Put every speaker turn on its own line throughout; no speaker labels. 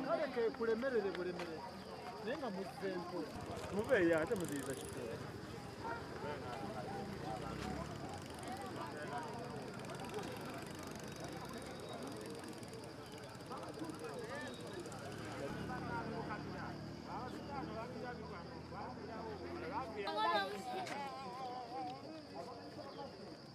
kale kekulemerere bulemere naye nga muzze mpola mubeeyo ate
muziyiza kitooke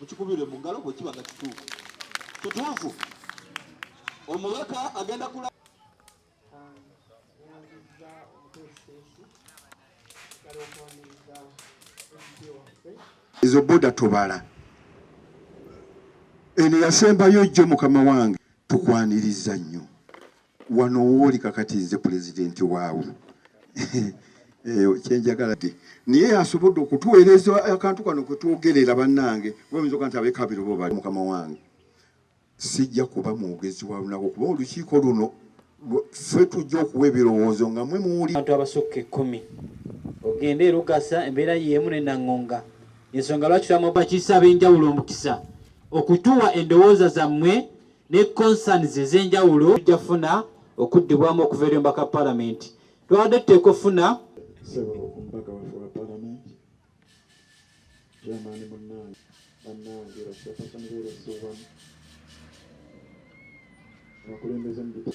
mukikubire mu ngalo bwe kiba nga kituufu kituufu omubaka agenda kula Nyanzizza omuteesiteesi kale okwaniriza ebidyo waffe ezo boda tubala eno yasembayo jjo mukama wange tukwaniriza nnyo wano wooli kakati nze pulezidenti waawo eh, kyenjagala de naye asobodde okutuweereza akantu kano kwetwogerera bannange wayinza oga nti abekabirobo bali mukama wange Sijja kuba mwogezi wa lunaku kuba olukiiko luno ffe tujja okuwa ebirowoozo nga mwe muwuli abantu abasukka ekkumi
ogende erugasa embeera yeemu ne naŋŋonga ensonga lwaki twamubakiisa ab'enjawulo omukisa okutuwa endowooza zammwe ne concerns ez'enjawulo tujja funa okuddibwamu okuva eri omubaka palamenti twabadde tuteeka okufuna
jamani munange banange bakyakasangeeresowamu abakulembeze mubita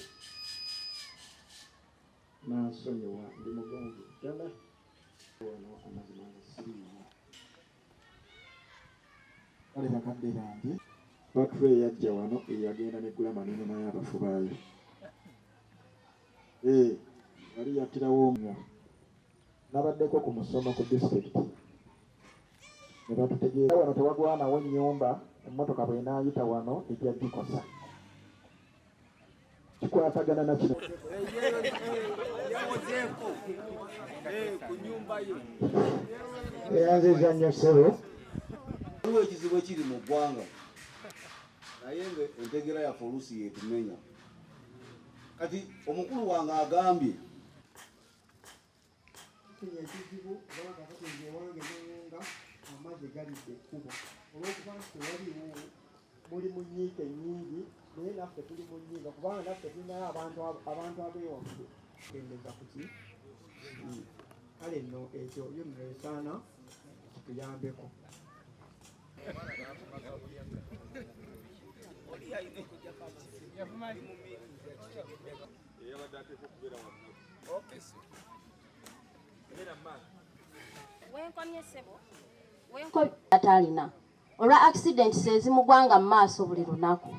nansonyiwa ndi mugonvu ddala wano amazima nga siriimu kale bakadde bange batula eyajja wano eyagenda negula maneno naye abafu baayo ee eh, wali yattirawo omwo nabaddeko ku musomo ku disitulikiti ne batutegeera wano tewagwanawo nnyumba emmotoka bw'enaayita wano ejja gikosa kikwatagana na kino eyanziza nnyo sebo waliwo
ekizibu ekiri mu ggwanga naye nga entegera yaffe oluusi yeetumenya kati omukulu wange agambye
Kenya ekizibu kubanga kakati nze ewange newunga amazzi galidde ekkubo olwokuba nti tewaliwo muli mu nyiike nyingi naye naffe tuli mu nyiika kubanga naffe tulinayo abantu abewaffe kendeza kuki kale nno ekyo yo nno esaana kituyambeko Yeah, you know,
Eyabadde ateekwa okubeera wamnaku. Okay, sir. Beera mmaali. Wenkomye ssebo. Wenkomye. Atalina. Olwa accident sezimugwanga mu maaso buli lunaku.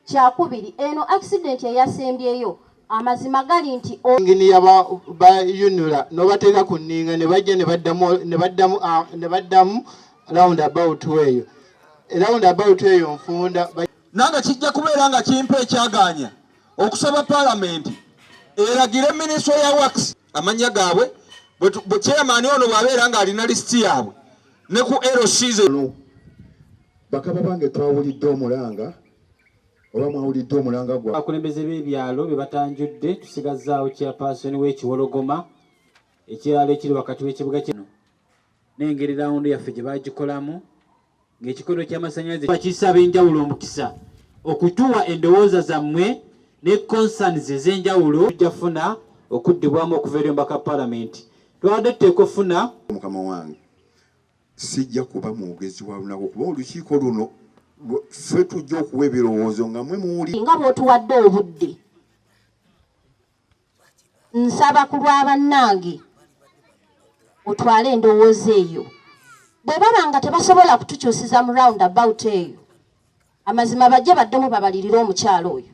Kyakubiri, eno accident eyasembyeyo amazima gali nti engini
yabayunula nobateeka ku nninga ne bajja ne baddamu ah, round about eyo round about eyo nfunda nange kijja
kubeera nga kimpa ekyagaanya okusaba palamenti eragire minisitule ya wax amannya gaabwe bwe chairman ono bw'abeera ng'alina lisiti yaabwe ne ku lcz bakaba bange twawulidde omulanga oba mwawulidde omulanga gwa abakulembeze b'ebyalo
bye batanjudde tusigazzaawo chairperson w'ekiwologoma ekiralo ekiri wakati w'ekibuga kino n'engeri rawundi yaffe gye bagikolamu ng'ekikondo ky'amasannyalaze bakiyisa ab'enjawulo omukisa okutuwa endowooza zammwe ne concerns ez'enjawulo tujja funa okuddibwamu okuva eri omubaka palamenti twabadde tuteeka ofuna mukama wange
sijja kuba mwogezi wa lunaku kuba olukiiko luno ffe tujja okuwa ebirowoozo nga mwe muwuli nga bwotuwadde
obudde nsaba ku lwa bannange otwale endowooza eyo bwe baba nga tebasobola kutukyusiza mu round about eyo amazima bajje baddemu babalirire omukyalo oyo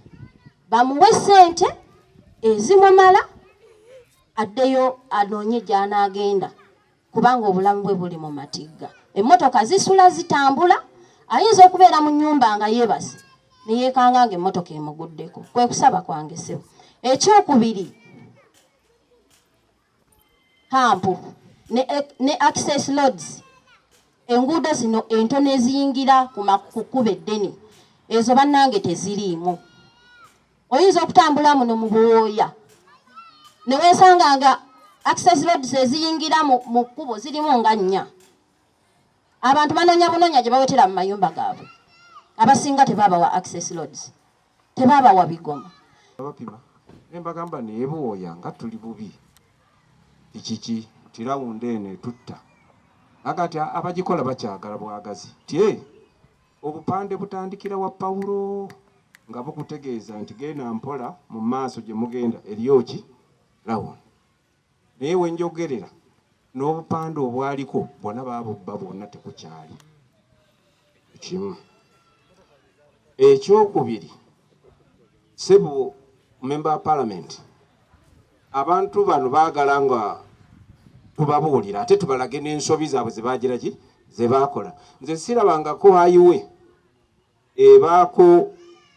bamuwe sente ezimumala addeyo anoonye gy'anaagenda kubanga obulamu bwe buli mu matigga emmotoka zisula zitambula ayinza okubeera mu nyumba nga yeebase neyeekanga nga emmotoka emuguddeko kwe kusaba kwange sebo ekyokubiri hampu ne, ne access loads enguudo zino entono eziyingira ku kkuba eddene ezo bannange teziriimu oyinza okutambula muno mu buwooya ne weesanga nga access roads eziyingira mu kkubo zirimu nga nnya abantu banoonya bunoonya gye bawetera mu mayumba gaabwe abasinga tebaabawa access roads tebaabawa bigoma abapima
nembagamba naye buwooya nga tuli bubi ekiki nti rawunda eno etutta aga ti abagikola bakyagala bwagazi tye Obupande butandikira wa Pawulo nga bukutegeeza nti genda mpola mu maaso gye mugenda eriyo ki lawuni. Naye we njogerera n'obupande obwaliko bwona baabubba bwonna tekukyali kimu. Ekyokubiri Sebo member wa parliament, abantu bano baagala nga tubabuulira ate tubalage n'ensobi zaabwe zebagira ki zebakola. Nze sirabangako ayiwe ebaako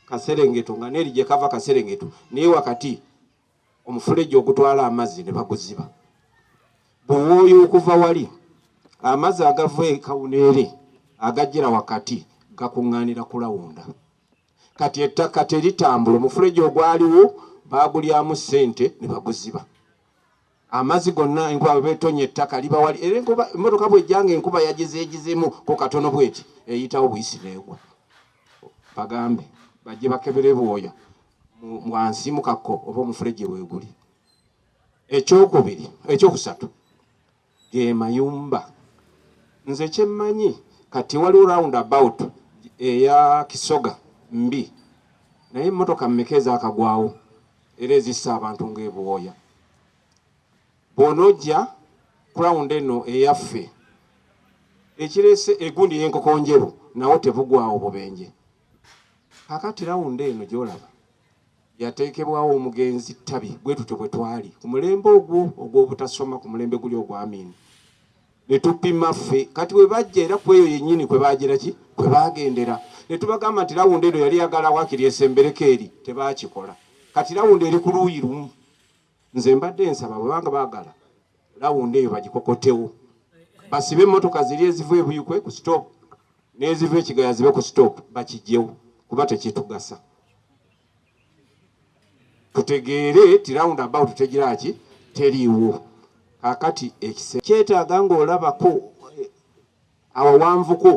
kaserengeto nga neeri gye kava kaserengeto naye wakati omufulejje ogutwala amazzi ne baguziba buwooyo okuva wali amazzi agava e kawuneere agajjira wakati gakuŋŋaanira kulawunda. kati ettaka teritambula omufuleji ogwaliwo baagulyamu ssente ne baguziba amazzi gonna enkuba bebetonya ettaka libawali era enkuba emmotoka bwejjanga enkuba yagizeegizemu ku katono bweti eyitawo buyisi neegwa bagambe bajje bakebere bwoya wansi mu kakko oba omufuleji weeguli ekyokubiri ekyokusatu ge mayumba nze kyemmanyi kati waliwo round about eya kisoga mbi naye emmotoka mmeka ezakagwawo era ezissa abantu ng'ebuwooya bw'onojja cround eno eyaffe ekireese egundi y'enkokonjeru nawo tebugwawo bubenje kakati rawundi eno gy'olaba yateekebwawo omugenzi ttabi bwe tutyo bwe twali ku mulembe ogwo ogw'obutasoma ku mulembe guli ogwamiini ne tupima ffe kati bwe bajja era ku eyo yennyini kwe baagira ki kwe baagendera ne tubagamba nti lawundi eno yali yagala wakiri esembereko eri tebaakikola kati lawundi eri ku luuyi lumu nze mbadde nsaba bwebanga bagala lawundi eyo bagikokotewo basibe emotoka ziri eziva ebuyukwe ku stop neziva ekigaya zibe ku stop bakijjewo kuba tekitugasa tutegeere ti round about tegiraki teriiwo kakati ekise kyetaaga ngaolabako awawanvuko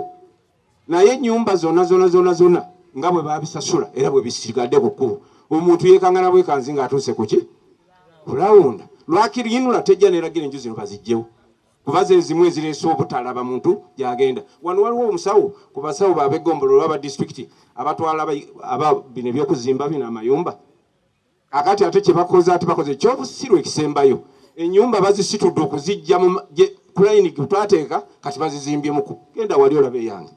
naye enyumba zona zona zona zona nga bwe babisasula era bwe bisigadde ku kkubo omuntu yekangana bwekanzi nga atuuse kuki kulawunda lwakiriyinula tejja neragira enju zino bazijjewo kuba zezimu ezireese obutalaba muntu gyagenda wano waliwo omusawo ku basawo babegombolo olwaba disitulikiti abatwala bino ebyokuzimba bino amayumba Kakati ate kyebakoze ate bakoze ekyobusiru ekisembayo, enyumba bazisitudde okuzijja mu plane gutwateeka kati bazizimbyemku. Genda wali olabe eyange,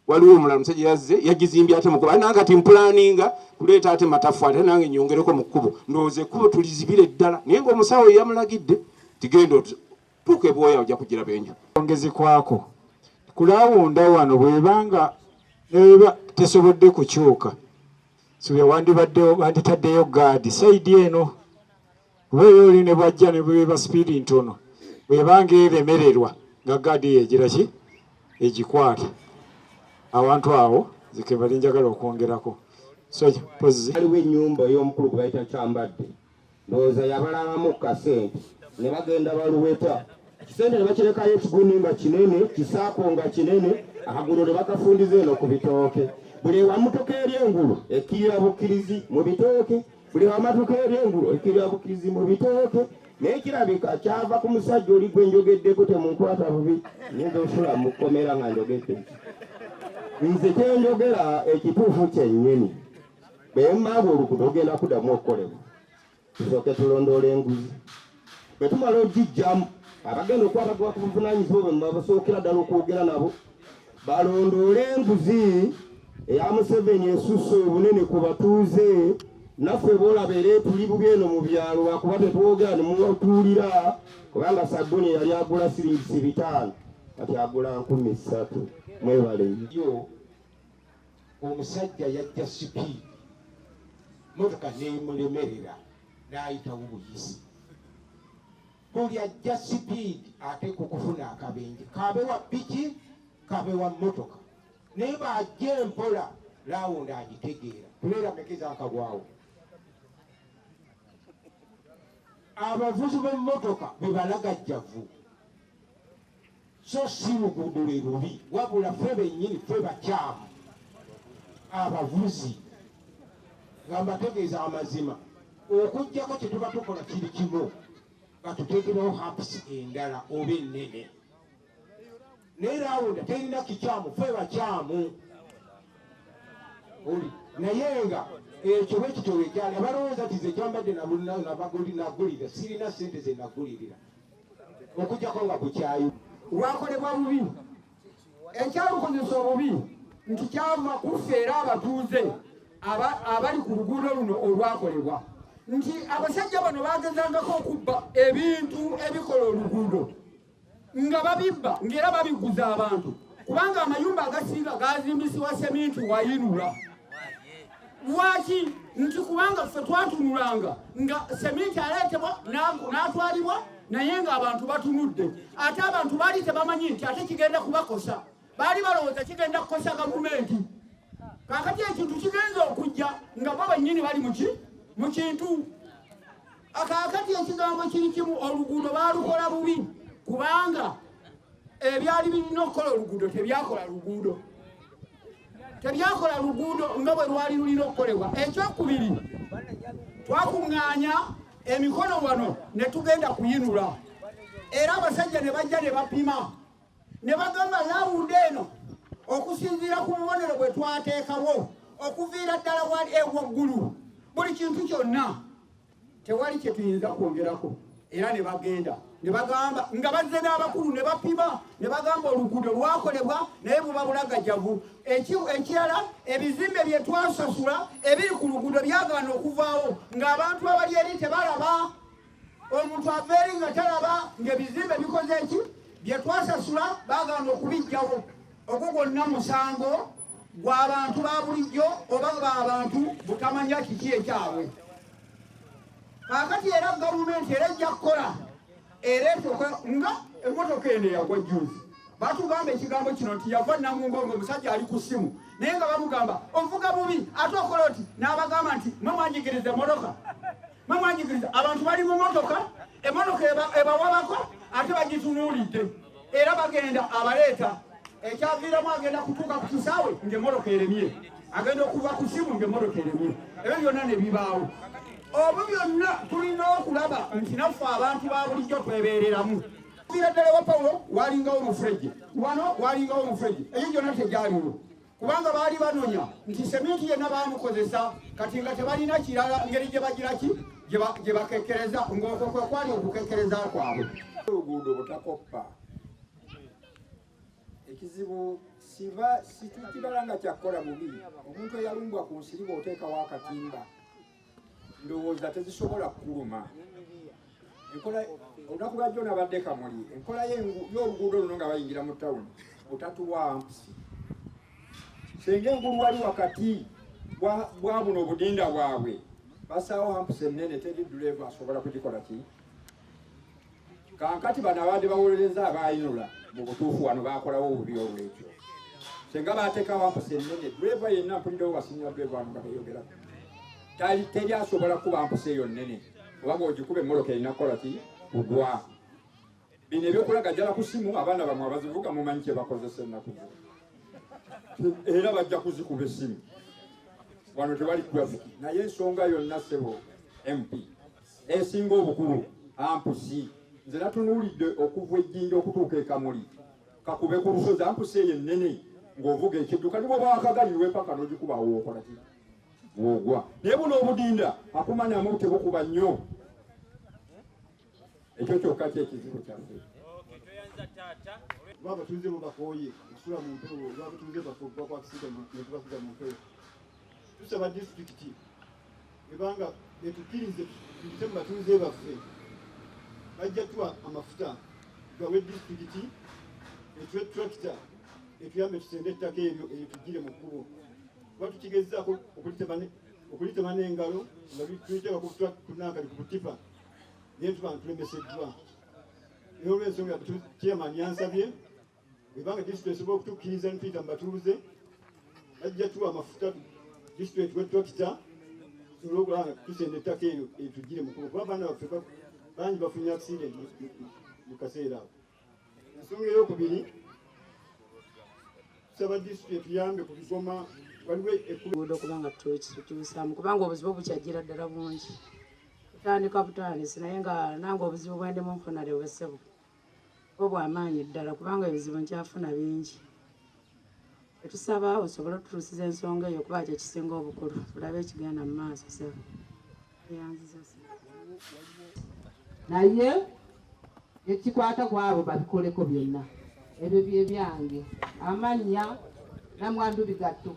waliwo omulala musajja yazze yagizimbye ate mukubo, nange kati mpulaninga kuleeta ate matafwali ate nange nyongereko mu kkubo, ndowooza ekkubo tulizibire ddala, naye ngaomusawo yeyamulagidde tigenda tuuka ebwoya ojja kugira benju ongezi kwako
kulawunda wano bwebanga tesobodde kukyuka suubira wandibaddewo banditaddeyo gaadi saidi eno oba eyo oli ne bwajja ne bweba sipiidi ntono bwebanga eremererwa nga gaadi eyo egira ki egikwata awantu awo zikebali njagala okwongerako so pozi
aliwo enyumba ey'omukulu gwe bayita kyambadde ndowooza yabalabamu ku kasente ne bagenda baluweta kisente ne bakirekayo ekiguni nga kinene kisaako nga kinene akagulu ne bakafundiza eno ku bitooke buli ewamutuka eri engulu ekkirira bukkirizi mu bitooke buli wamatuka eri engulu ekkirira bukkirizi mu bitooke naye kirabika kyava ku musajja oli gwe njogeddeko temunkwata bubi nyinza osula mu kkomera nga njogedde nze kyenjogera ekituufu kyennyini naye maaba oluguudo lugenda kuddamu okukolebwa tusooke tulondoola enguzi bwe tumala ogijjamu abagenda okuba bagoba ku buvunanyizibwa bwe mubabasookera ddala okwogera nabo balondoole enguzi eya museveni esusse obunene ku batuuze naffe bolabeera etuli bubi eno mu byalo lwakuba tetwogera nemutuulira kubanga sabbuni yali agula siringisi bitaano kati agula nkumi ssatu mwebale yo omusajja yajja sipiidi motoka nemulemerera nayitawo buyisi buli ajja sipiidi ate kukufuna akabenje kabe wa piki kabe wa motoka naye bajja empola
lawundi agitegeera tuleera mekeza akagwawo abavuzi b'emmotoka bebalagajjavu so si luguudo lwe lubi wabula fe bennyini fe bakyamu abavuzi nga mbategeeza amazima okugyako kyetuba tukola kiri kimu nga tuteekerewo haps endala oba ennene naye rawunda terina kikyamu fe bakyamu oli naye nga ekyo bwekityo wekyali abalowooza ti zekyambadde nabagulira sirina sente zenagulirira okujjako nga kukyayi lwakolebwa bubi
ekyalukozesa obubi nti kyava kuffe era abatuuze abali ku luguudo luno olwakolebwa nti abasajja bano bagezangako okubba ebintu ebikola oluguudo nga babibba ngaera babiguza abantu kubanga amayumba agasinga gazimbisiwa seminti wayinula lwaki nti kubanga ffe twatunulanga nga seminti aleetebwa n'atwalibwa naye ng'abantu batunudde ate abantu baali tebamanyi nti ate kigenda kubakosa baali balowooza kigenda kukosa gavumenti kakati ekintu kigenza okujja nga bo bannyini bali muki mu kintu kakati ekigambo kiri kimu oluguudo baalukola bubi kubanga ebyali birina okukola oluguudo tebyakola luguudo tebyakola luguudo nga bwe lwali lulina okukolebwa ekyokubiri twakuŋŋaanya emikono wano ne tugenda kuyinula era abasajja ne bajja ne bapima ne bagamba laawundi eno okusinziira ku bubonero bwe twateekawo okuviira ddala wali ewaggulu buli kintu kyonna tewali kye tuyinza kwongerako era ne bagenda ne bagamba nga bazze n'abakulu ne bapima ne bagamba oluguudo lwakolebwa naye buba bulagajavu ekirala ebizimbe bye twasasula ebiri ku luguudo byagaana okuvaawo ng'abantu abali eri tebalaba omuntu ava eri nga talaba ng'ebizimbe bikoze eki bye twasasula bagaana okubijjawo ogwo gwonna musango gw'abantu ba bulijjo oba ng'abantu butamanya kiki ekyabwe kakati era gavumenti era ejja kukola era esoka nga emotoka eno eyagwa juzi batugamba ekigambo kino nti yava namungo nga omusajja ali ku ssimu naye nga bamugamba ovuga bubi ate okola oti n'abagamba nti mwe mwanyigiriza emotoka Mwe mwanyigiriza abantu bali mu motoka, emotoka ebawabako ate bagitunuulidde era bagenda abaleeta ekyaviiramu agenda kutuuka ku kisaawe ng'emmotoka eremye agenda okuva ku simu ng'emmotoka eremye ebyo byonna ne bibaawo obwo byonna tulina okulaba nti naffe abantu ba bulijjo twebeereramu kira ddala wa pawulo walingawo omufurejje wano walingawo omufurejje eyo gyonna tegyaliwo kubanga baali banonya nti seminti yenna baamukozesa kati nga tebalina kirala ngeri gye bagiraki gye bakekkereza ng'okwo kwe kwali okukekkereza kwabwe oluguudo
butakoppa ekizibu siba situkibala nga kyakukola bubi omuntu eyalumbwa ku nsiri bw'oteekawo akatimba ndowooza tezisobola kukuluma enkola olunaku lwajjo nabadde kamuli enkola y'oluguudo luno nga bayingira mu tawuni otatuwampusi senga engulu wali wakati bwa buno obudinda bwabwe basaawo hampusi ennene teri duleeva asobola kugikola ki Kaakati bano abadde bawolereza abaayinula mu butuufu wano baakolawo obubi olwekyo senga baateekawo ampusa ennene dweeva yenna mpulirawo wasinira dweeva wano nga beyogera tali teri asobola kuba mpusa eyo nnene kubanga ogikuba emmoloka erina kukola ki kugwa bino ebyokulaga jala ku simu abaana bamwe abazivuga mumanyi kye bakozesa ennaku era bajja kuzikuba essimu wano tewali grafiki naye ensonga yonna sebo mp esinga obukulu ampusi nze natunuulidde okuva ejjinja okutuuka ekamuli kakube ku lusozi ampusi eyo ennene ng'ovuga ekidduka nibo bakagaliwe paka n'ogikuba wookola ki woogwa naye buno obudinda akumanyamu tebukuba nnyo ekyo kyokka kyekizibu kyaffe oba abatuuze
bo bakooye okusula mu mpewo oba abatuuze bafe okuba kwakisiga netubakuga mu mpewo tusaba disitulikiti ebanga betukirize tuyite mu batuuze baffe bajja tuwa amafuta gawe disitulikiti etwe tracta etuyambe tusende ettaka eryo eyo tugire mu kkubo kuba tukigezaako okulitema n'engalo nga tuliteeka kunankali ku butipa naye tuba ntulemeseddwa naye olw'ensonga chairman yansabye bweba nga disitulikiti esobola okutukkiriza ne tuyita mu batuuze bajja tuwa amafuta disitulikiti etuwe tulakita tusobole okulaba nga tusenda ettaka eyo etugire mukubo kuba abaana baffe bangi bafunye accident mu kaseera ako ensonga eyokubiri tusaba disitulikiti etuyambe ku bigoma waliwo ekkuudo kuba nga
tukituusaamu kubanga obuzibu bukyajjira ddala bungi kutandika butandisi naye nga nange obuzibu bwendemu nfunale obusebo obwamaanyi ddala kubanga ebizibu nkyafuna bingi etusaba osobole otutuusiza ensonga eyo kuba kyekisinga obukulu tulabe ekigenda mu maaso sebo
naye ekikwata ku abo babikoleko byonna ebyo bye byange amannya namwandu bigatto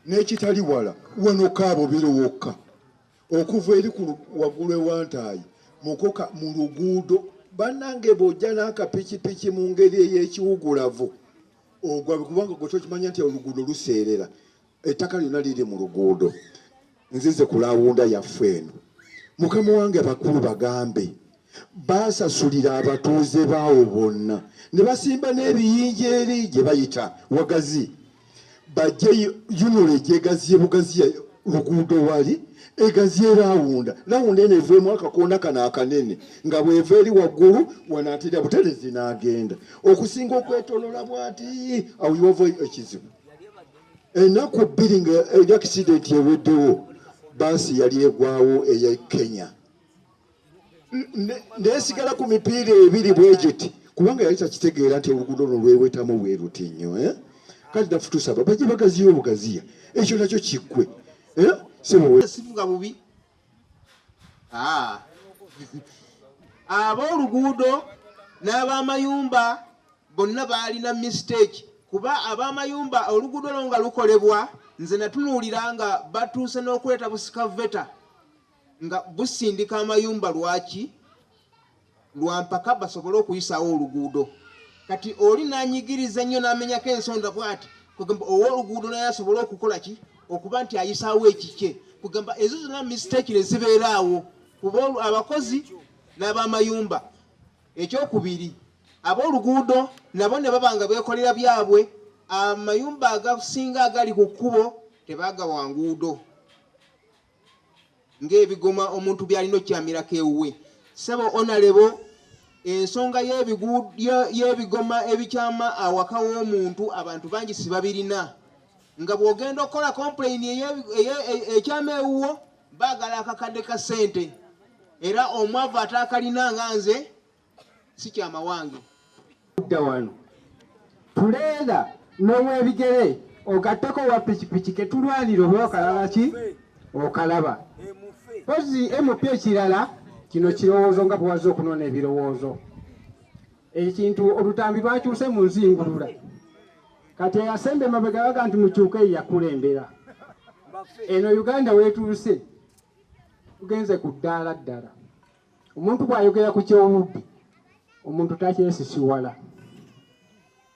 n'ekitali wala wanokaabo biri wokka okuva eri ku waggulu ewantaayi mukoka mu luguudo bannange bw'ojja n'akapikipiki mu ngeri ey'ekiwugulavu ogwa kubanga gwe tokimanya nti oluguudo luseerera ettaka lyonna liri mu luguudo nzize ku lawunda yaffe eno mukama wange abakulu bagambe baasasulira abatuuze baawo bonna ne basimba n'ebiyinja eri gye bayita wagazi bajje yunula egyegaziye bugaziya luguudo wali egaziye rawunda rawunda eno eveemu akakonda kano akanene nga bweva eri waggulu wanaatera buterezi n'agenda okusinga okwetolola bwati awo yova ekizibu ennaku bbiri nga eri akisidenti eweddewo baasi yali egwawo eya kenya nesigala ku mipiira ebiri bwegiti kubanga yali takitegeera nti oluguudo luno lwewetamu bweruti nnyo eh? kati nafu tusaba baje bagaziya obugaziya ekyo nakyo kiggwe eh?
simuga bubi ah. ab'oluguudo n'abamayumba bonna baalina mistake kuba ab'amayumba oluguudo lwo nga lukolebwa nze natunuulira nga batuuse n'okuleeta busikaveta nga busindika amayumba lwaki lwampaka basobole okuyisaawo oluguudo kati oli nanyigiriza nnyo namenyako ensonda bwati kugamba owoluguudo naye asobole okukola ki okuba nti ayisaawo ekikye kugamba ezo zonna mistake ne zibeeraawo kuba abakozi n'abamayumba ekyokubiri ab'oluguudo nabo ne baba nga beekolera byabwe amayumba agasinga agali ku kkubo tebagawa nguudo ng'ebigoma omuntu byalina okukyamirako ewuwe sebo onalebo ensonga y'ebigoma ebikyama awaka w'omuntu abantu bangi sibabirina nga bw'ogenda okukola kompuleyini ekyama ewuwo baagala akakadde ka ssente era omwavu ataakalina nga nze si kya mawange kudda wano
tuleera n'owebigere ogatteko owa pikipiki ketulwanira oba okalaba ki okalaba pozi mp ekirala kino kirowoozo nga bwewazza okunona ebirowoozo ekintu olutambi lwakyuse mu nzingulula kati eyasemba emabega baga nti mukyuka eyo yakulembera eno uganda wetuuse tugenze ku ddaala ddala Omuntu bw'ayogera ku ky'obubbi omuntu takyesisiwala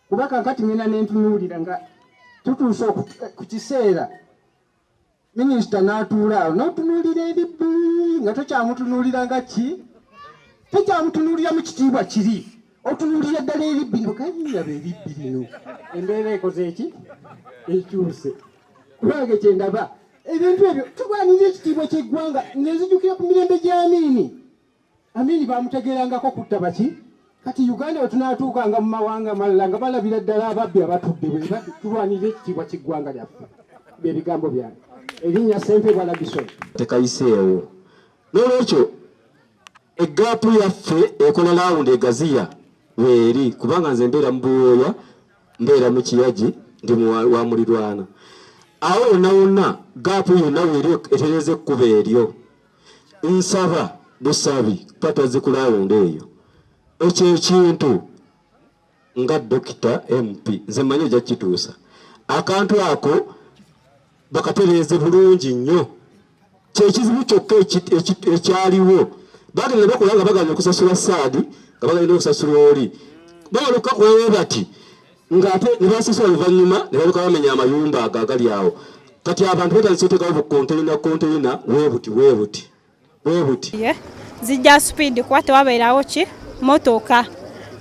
kuba kakati ngenda nentunuulira nga tutuuse eh, ku kiseera minisita n'atuula awo n'otunuulira eri bbuli nga tokyamutunuulira nga ki tokyamutunuulira mu kitiibwa kiri otunulira ddala ebibbi no kayiraba ebibbi bino embeera ekoze eki ekyuse kubange kyendaba ebintu ebyo tugwanyiza ekitiibwa kyeggwanga ngenzijukira ku mirembe gya amiini amiini bamutegerangako kutta baki kati uganda wetunatuukanga mu mawanga amalala nga balabira ddala ababbi abatudde bwe tulwanira ekitiibwa kyeggwanga lyaffe byebigambo byange erinnya sempe bwalagisoni tekayiseewo
n'olwekyo eggaapu yaffe ekola laawundi egaziya weeri kubanga nze mbeera mu buwooya mbeera mu kiyagi ndi wa mulirwana awo wonna wonna gaapu yonna weeri etereza ekkuba eryo nsaba busabi patazi ku laawundi eyo ekyo ekintu nga dokita mp nze manyi ojja kukituusa akantu ako bakatereeze bulungi nnyo kyekizibu kyokka ekyaliwo bagenda bakola nga bagana okusasula saadi nga bagenda okusasula oli bagala okukakolawo bati ngaate nebasasula luvannyuma nebaluka bamenya amayumba ago agali awo kati abantu batandisa otekawo bukonteyina konteyina webuti webuti
bwebuti zijja speed
kuba
tewabeerawo ki motoka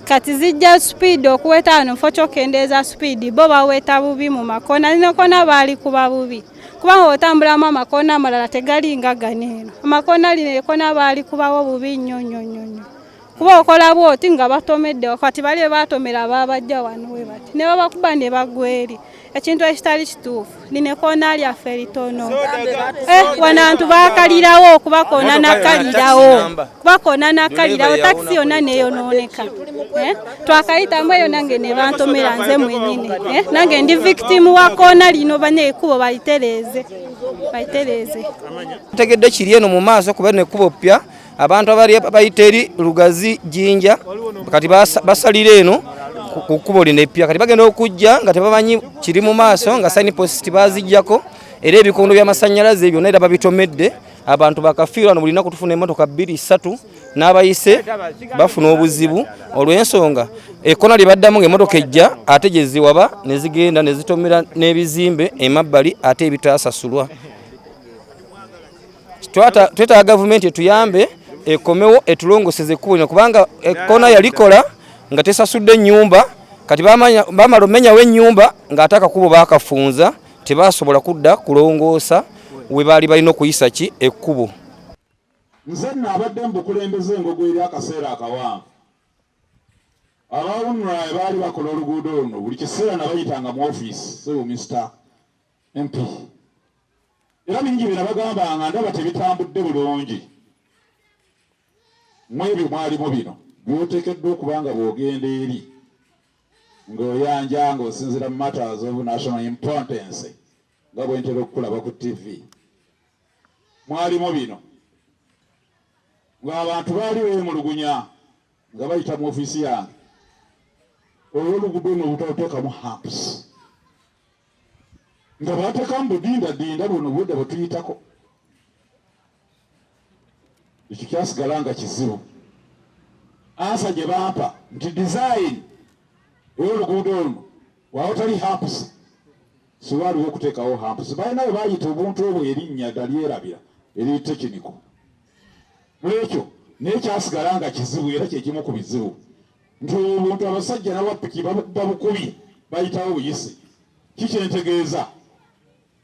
kati zijja speed okuweta wano mufo kyokendeeza speed bo baweta bubi mu makona nekona baali kuba bubi kubanga otambulamu amakona amalala tegalinga ganeeno amakona lino ekona baali kubawo bubi nnyo nnyo nnyo nnyo kuba okola bwoti nga batomedde wakati bali bebatomera ababajja wano we bati ne babakuba ne bagweri ekintu ekitali kituufu lino ekoona lyaffe litono eh, wanantu bakalirawo okuba koona nakalirawo kuba koona nakalirawo takisi yonna neyonooneka eh, twakayitamu eyo nange ne bantomera nze mwenyini eh, nange ndi victimu wa koona lino bane ekubo balitereeze balitereeze
tegedde kiri eno mu maaso kuba nekubo ppya abantu abali bayita eri lugazi jinja kati basalira eno ku kkubo lino eppya kati bagenda okujja nga tebamanyi kiri mu maaso nga saini positi bazijjako era ebikondo by'amasannyalaze byonna era babitomedde abantu bakafiirwa no buli lunaku tufuna emmotoka bbiri ssatu n'abayise bafuna obuzibu olw'ensonga ekkona lye baddamu ng'emmotoka ejja ate gye ziwaba ne zigenda ne zitomera n'ebizimbe emabbali ate ebitaasasulwa twetaaga gavumenti etuyambe ekomewo etulongoseze ekkubo lino kubanga ekkoona yalikola nga tesasudde ennyumba kati bamala omenyawo ennyumba ng'ate akakubo baakafunza tebasobola kudda kulongoosa we baali balina okuyisa ki ekkubo
nze nno abadde mu bukulembeze engogo eri akaseera akawanvu abawunula baali bakola oluguudo luno buli kiseera nabayitanga mu ofiisi sibumisita nti era bingi bye nabagamba nga ndaba tebitambudde bulungi mwebyo mwalimu bino byotekeddwa okuba nga bwogenda eri ng'oyanja ng'osinzira mu matters of national importance nga bwentera okukulaba ku tv mwalimu bino ng'abantu baali beemulugunya nga bayita mu ofiisi yange olwolugudo no obutatoteekamu hamps nga baateka mu budindadinda buno obudde bwe tuyitako ekyo kyasigala nga kizibu ansa gye bampa nti dizayini ey'oluguudo luno waawatali hampusi siwaaliwo okuteekawo hampusi balina we baayita obuntu obwo erinnya dalyerabira eri tekiniko mulwekyo naye kyasigala nga kizibu era kyekimu ku bizibu nti obuntu abasajja nabapiki babukubba bukubi bayitawo buyisi kikyentegeeza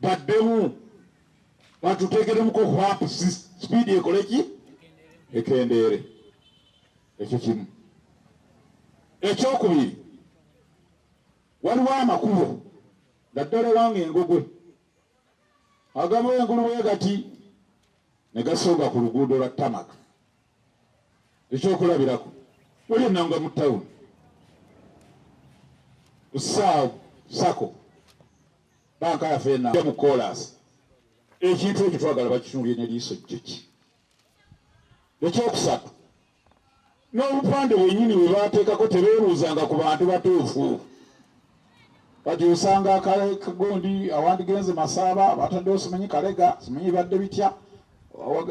baddemu batuteekeremuko hwap sipiidi ekole ki ekendeere ekyo kimu ekyokubiri waliwo amakubo naddala ewange engogwe agamu engulu bwe gati ne gasonga ku luguudo lwa tamaka ekyokulabirako waliyo nanga mu tawuni saa sako banka yaffe enaja mu koolaasi ekintu ekyo twagala bakitunulye neliiso jjoki ekyokusatu n'obupande bwenyini bwe bateekako tebeebuuzanga ku bantu batuufu kati osanga akagundi awandigenze masaaba bataddewo simanyi kalega simanyi badde bitya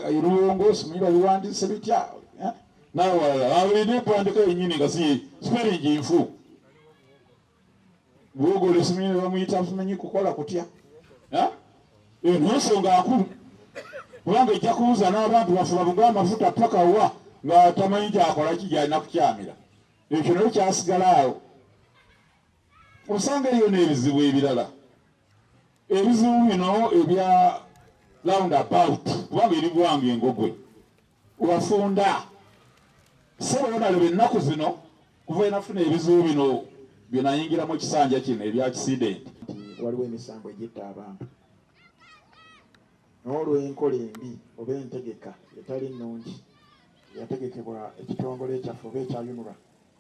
eruwongo simanyi babiwandise bitya eh? nawalala awulina okwandika yenyini nga si sipelingi nfu bwogola esimanyi nebamuyita simanyi kukola kutya eh? eyo nonsonga nkulu kubanga ejja kubuuza n'abantu bafuba bugwa amafuta paka wa nga tamanyi kyakola kijyalina kukyamira Ekyo naye kyasigala awo. Osanga eriyo n'ebizibu ebirala, ebizibu bino ebya round about kubanga eri gwanga engogwe wafunda sebonaleba ennaku zino kuva enafuna ebizibu bino byenayingiramu ekisanja kino ebya kisidenti waliwo emisango
egyetta abantu N'olw'enkola embi oba entegeka etali nnungi eyategekebwa ekitongole kyaffe oba ekya UNRA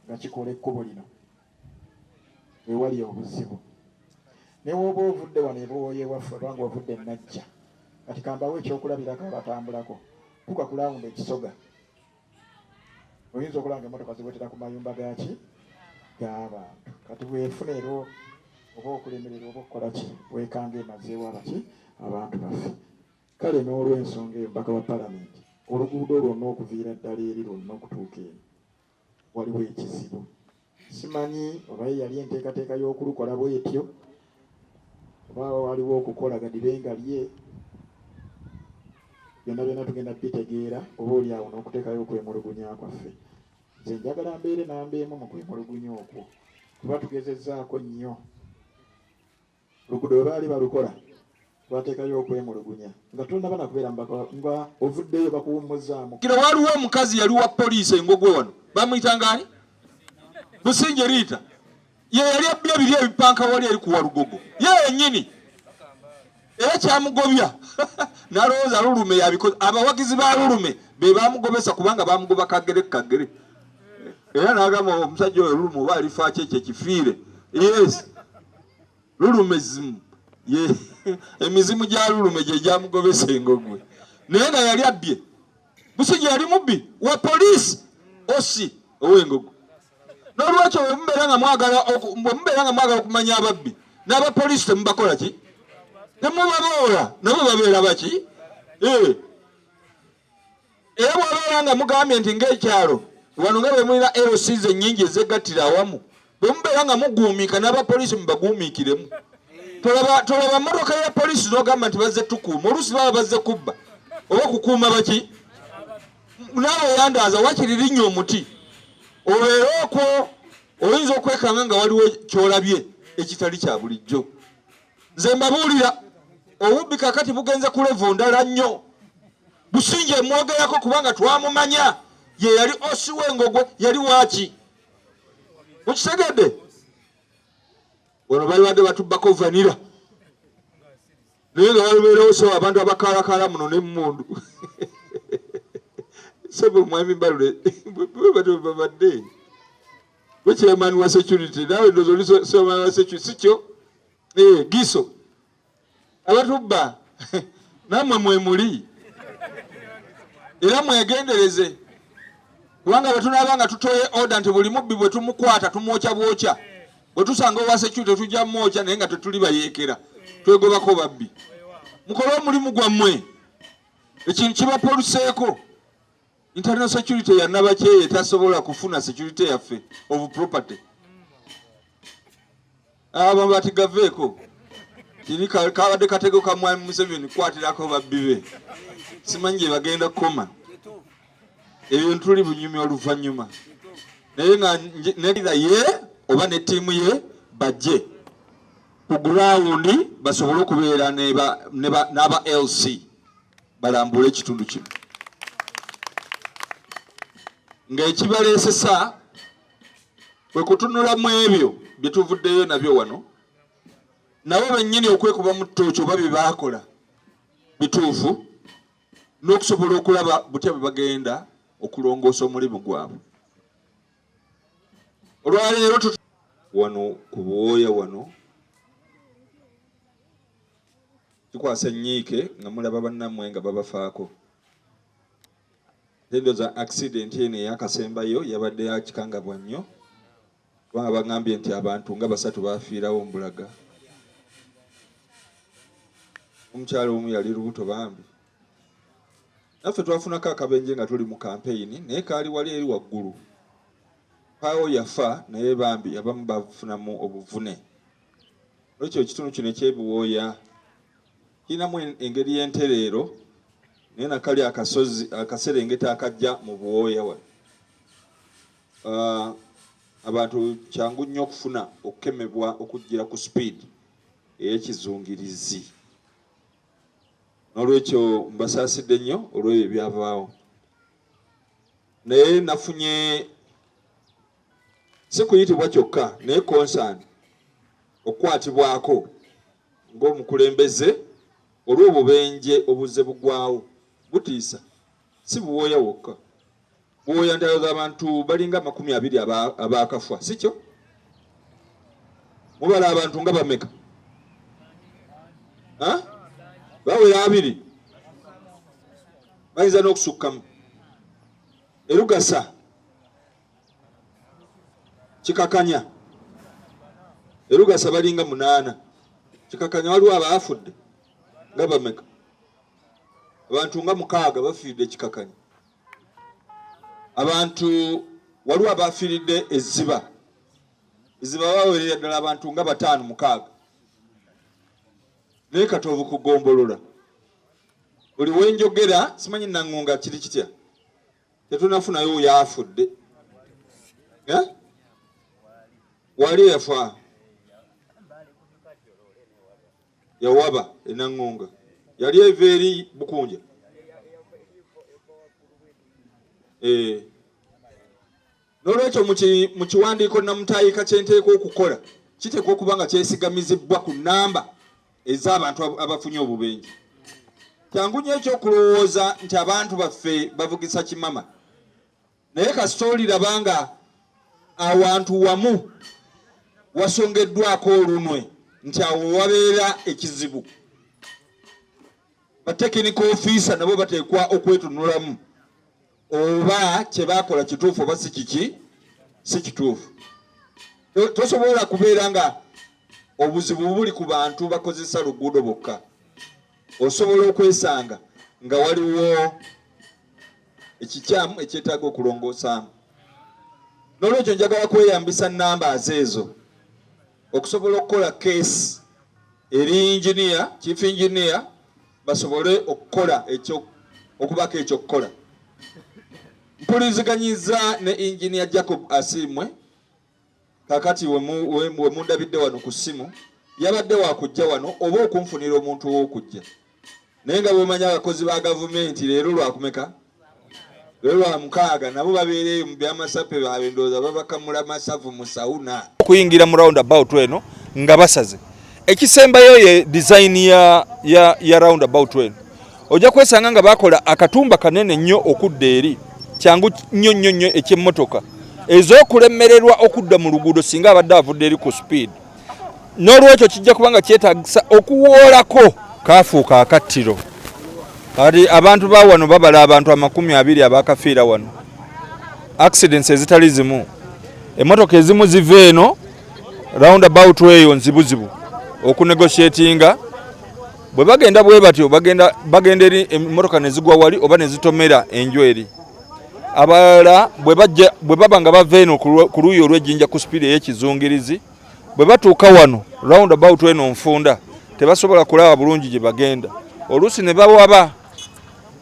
nga kikola ekkubo lino, we wali obuzibu. Ne w'oba ovudde wano e Buwooya ewaffe oba ng'ovudde e Najja, kati kambawe ekyokulabirako abatambulako, tuuka ku laawundi e Kisoga. oyinza okulaba nga emotoka ziwetera ku mayumba gaki gabantu kati bwefuna era oba okulemerera oba okukola ki wekanga emazeewo abaki abantu baffe kale n'olwensonga eyo mpaka wa palamenti oluguudo lwonna okuviira ddala eri lwonna okutuuka eno waliwo ekizibu Simanyi oba ye yali enteekateeka y'okulukola bwetyo oba waliwo okukola gadibe nga lye byonna byonna tugenda bitegeera oba oli awo n'okuteekayo okwemulugunya kwaffe nze
njagala mbeere namba emu mu kwemulugunya okwo kuba tugezezzaako nnyo Luguudo bwe baali balukola twateekayo okwemulugunya nga tonnaba na kubeera mubaka nga ovuddeyo bakuwummuzzaamu. Kino waliwo omukazi
yali wa poliisi engogwe wano bamuyita ngaani Businje Riita ye yali abbye biri ebipanka wali eri kuwa lugogo ye yennyini era kyamugobya nalowooza lulume yabikoze abawagizi ba lulume be bamugobesa kubanga bamugoba kagere kagere era nagamba omusajja oyo lulume oba alifaaki ekyo ekifiire yes lulume zimu ye emizimu gya lulume gye gyamugobesa engogwe naye nga yali abbye busigi yali mubbi wa poliisi osi ow'engogo n'olwekyo bwemubeera nga mwagala bwemubeera nga mwagala okumanya ababbi n'abapoliisi temubakola ki temubaboola nabo babeera baki ee eh. Era bw'abeera nga mugambye nti ng'ekyalo wano nga bwe mulina LCs ennyingi ezeegattira awamu, bwe mubeera nga muguumiika n'abapoliisi mubaguumiikiremu. Tolaba tolaba mmotoka ya poliisi n'ogamba nti bazze tukuuma, oluusi baba bazze kubba oba kukuuma baki? Naawe yandaaza wakiri linnya omuti obeere okwo. Oyinza okwekanga nga waliwo ky'olabye ekitali kya bulijjo. nze mbabuulira obubbi kakati bugenze ku levu ndala nnyo businja emwogerako kubanga twamumanya ye yali osi wengogwe yali waaki mukitegedde wano balibadde batubbako vanira naye nga balubeerawo sebo abantu abakaalakaala muno nemundu sebo mwami mbalule bwebabadde Gwe chairman wa security nawe ndozo oli chairman wa security sikyo? Eh, giso. Abatubba namwe mwe muli. Era mwegendereze. Kubanga bwe tunaabanga tutoye order nti buli mubbi bwe tumukwata tumwokya bwokya. Bwe tusanga owa security tujja mwokya naye nga tetuli bayeekera. Twegobako babbi. Mukole omulimu gwammwe. Ekintu kibapoluseeko. internal security ya nabakyeye tasobola kufuna security yaffe of property aba bati gaveeko tiri kabadde katego ka mwami museveni kukwatirako babbi be simanyi gye bagenda kukoma ebyo ntuli bunyumi oluvannyuma naye nga neda ye oba ne ttiimu ye bajje ku gurawundi basobole okubeera n'aba lc balambule ekitundu kino ng'ekibaleesesa kwe kutunula mu ebyo bye tuvuddeyo nabyo wano nabo bennyini okwekuba mu ttooki oba bye baakola bituufu n'okusobola okulaba butya bwe bagenda okulongoosa omulimu gwabwe olwaleero wano ku buwooya wano Kikwasa ennyiike nga mulaba bannammwe nga babafaako. Ate ndowooza accident eno eyakasembayo yabadde ya kikangabwa nnyo kubanga bagambye nti abantu nga basatu baafiirawo mbulaga. Omukyala omu yali lubuto bambi. Naffe twafunako akabenje nga tuli mu kampeyini naye kaali wali eri waggulu. Paawo yafa naye bambi abamu bafunamu obuvune. Lwekyo ekitundu kino ekyebiwooya kirinamu engeri y'entereero naye nakali akasozi akaserengeta akajja mu buwooya wa ah, abantu kyangu nnyo okufuna okukemebwa okujja ku speed eyekizungirizi n'olwekyo mbasaasidde nnyo olw'ebyo ebyavaawo naye nafunye si kuyitibwa kyokka naye konsaani okukwatibwako ng'omukulembeze olw'obubenje obuzze bugwawo butiisa si buwooya wokka buwooya ntalo z'abantu balinga amakumi abiri abaakafwa si kyo mubala abantu nga bameka bawera abiri bayinza n'okusukkamu erugasa kikakanya erugasa balinga munaana kikakanya waliwo abaafudde nga bameka abantu nga mukaaga bafiiridde ekikakanya abantu waliwo abaafiiridde ezziba ezziba bawerera ddala abantu nga bataano mukaaga naye katoovu kugombolola buli wenjogera simanyi nangonga kiri kitya tetunafunayo oyo afudde eh? wali eyafa yawaba enangonga yali eva eri bukunja eh. N'olwekyo mu kiwandiiko nnamutaayiika kye nteekwa okukola kiteekwa okuba nga kyesigamizibbwa ku nnamba ez'abantu abafunye obubenje. Kyangu nnyo eky'okulowooza nti abantu baffe bavugisa kimama, naye kasita oliraba nga awantu wamu wasongeddwako olunwe nti awo wabeera ekizibu, batekinika ofiisa nabo bateekwa okwetunulamu. oba kye baakola kituufu oba si kiki si kituufu. Tosobola kubeera nga obuzibu buli ku bantu bakozesa luguudo bokka. Osobola okwesanga nga waliwo ekikyamu ekyetaaga okulongoosaamu. N'olwekyo njagala kweyambisa nnamba aze ezo okusobola okukola keesi eri yinginiya chief engineer basobole okukola ekyo okubako ekyokukola mpuliziganyiza ne engineer Jacob Asiimwe kakati wemundabidde wano ku ssimu yabadde wakujja wano oba okunfunira omuntu owokujja naye nga bwemanya abakozi ba gavumenti leero lwakumeka lwelwamukaaga nabo babeera eyo mu byamasape baabwe ndowooza babakamula masavu mu sauna okuyingira mu round
about eno nga basaze ekisembayo ye design ya, ya, ya round about eno ojja kwesanga nga bakola akatumba kanene nnyo okudda eri kyangu nnyo nnyo nnyo ekyemmotoka ez'okulemererwa okudda mu luguudo singa abadde avudde eri ku speed n'olwekyo kijja kuba nga kyetagisa okuwoolako kaafuuka akattiro kati abantu ba wano babala abantu amakumi abiri abakafiira wano accidents ezitali zimu emotoka ezimu ziva eno round about eyo nzibuzibu okunegotiatinga bwe bagenda bwe batyo bagenda eri emotoka nezigwa wali oba nezitomera enju eri abalala bwe baba nga bava eno ku luuyi olw'ejjinja ku sipiidi ey'ekizungirizi bwe batuuka wano round about eno nfunda tebasobola kulaba bulungi gye bagenda oluusi ne bawaba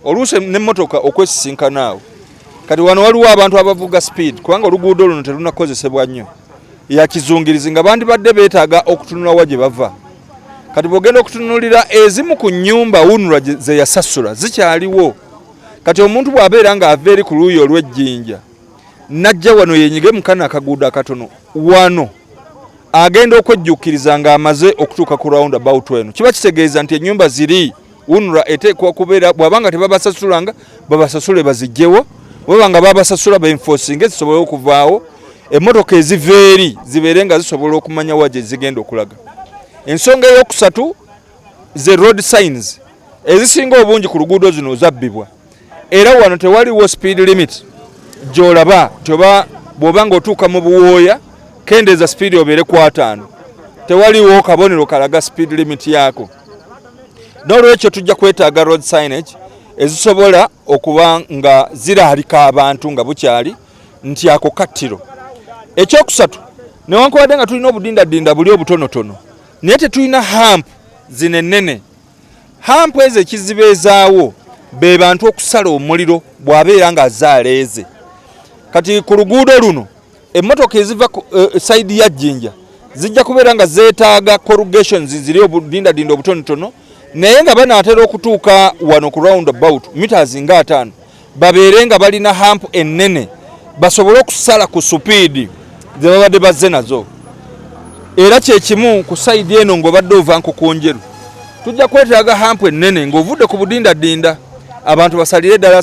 oluusi n'emmotoka okwesisinkana awo kati wano waliwo abantu abavuga sipiidi kubanga oluguudo luno terunakozesebwa nnyo yakizungirizi nga bandibadde beetaaga okutunula wa gye bava kati bwogenda okutunulira ezimu ku nyumba wunula zeyasasula zikyaliwo kati omuntu bw'abeera ng'ava eri ku luuyi olw'ejjinja najja wano yenyige mu kano akaguudo akatono wano agenda okwejjuukiriza ng'amaze okutuuka ku round about eno kiba kitegeeza nti ennyumba ziri unra eteekwa kubeera bw'aba nga tebabasasulanga babasasule bazijjewo bwaba nga babasasula benfosinga ezisobole okuvaawo emmotoka eziva eri zibeere nga zisobola okumanya wa gye zigenda okulaga ensonga ey'okusatu ze road signs ezisinga obungi ku luguudo zino zabbibwa era wano tewaliwo speed limit gyolaba nti oba bwoba nga otuuka mu buwooya kendeeza speed obeere ku ataano tewaliwo kabonero kalaga speed limit yaako n'olwekyo tujja kwetaaga road signage ezisobola okuba nga ziraalika abantu nga bukyali nti ako kattiro ekyokusatu newankubadde nga tulina obudindadinda buli obutonotono naye tetulina hamp zino ennene hamp ezo ekizibeezaawo be bantu okusala omuliro bw'abeera ng'azaaleeze kati ku luguudo luno emmotoka eziva eh, sayidi ya jjinja zijja kubeera nga zeetaaga corrugations ziri obudindadinda obutonotono naye nga banaatera okutuuka wano ku round about mitas nga ataano babeere nga balina hampu ennene basobole okusala ku supiidi ze babadde bazze nazo era kyekimu ku sayidi eno ng'obadde ova nkukunjeru tujja kwetaaga hampu ennene ng'ovudde ku budindadinda abantu basalire ddala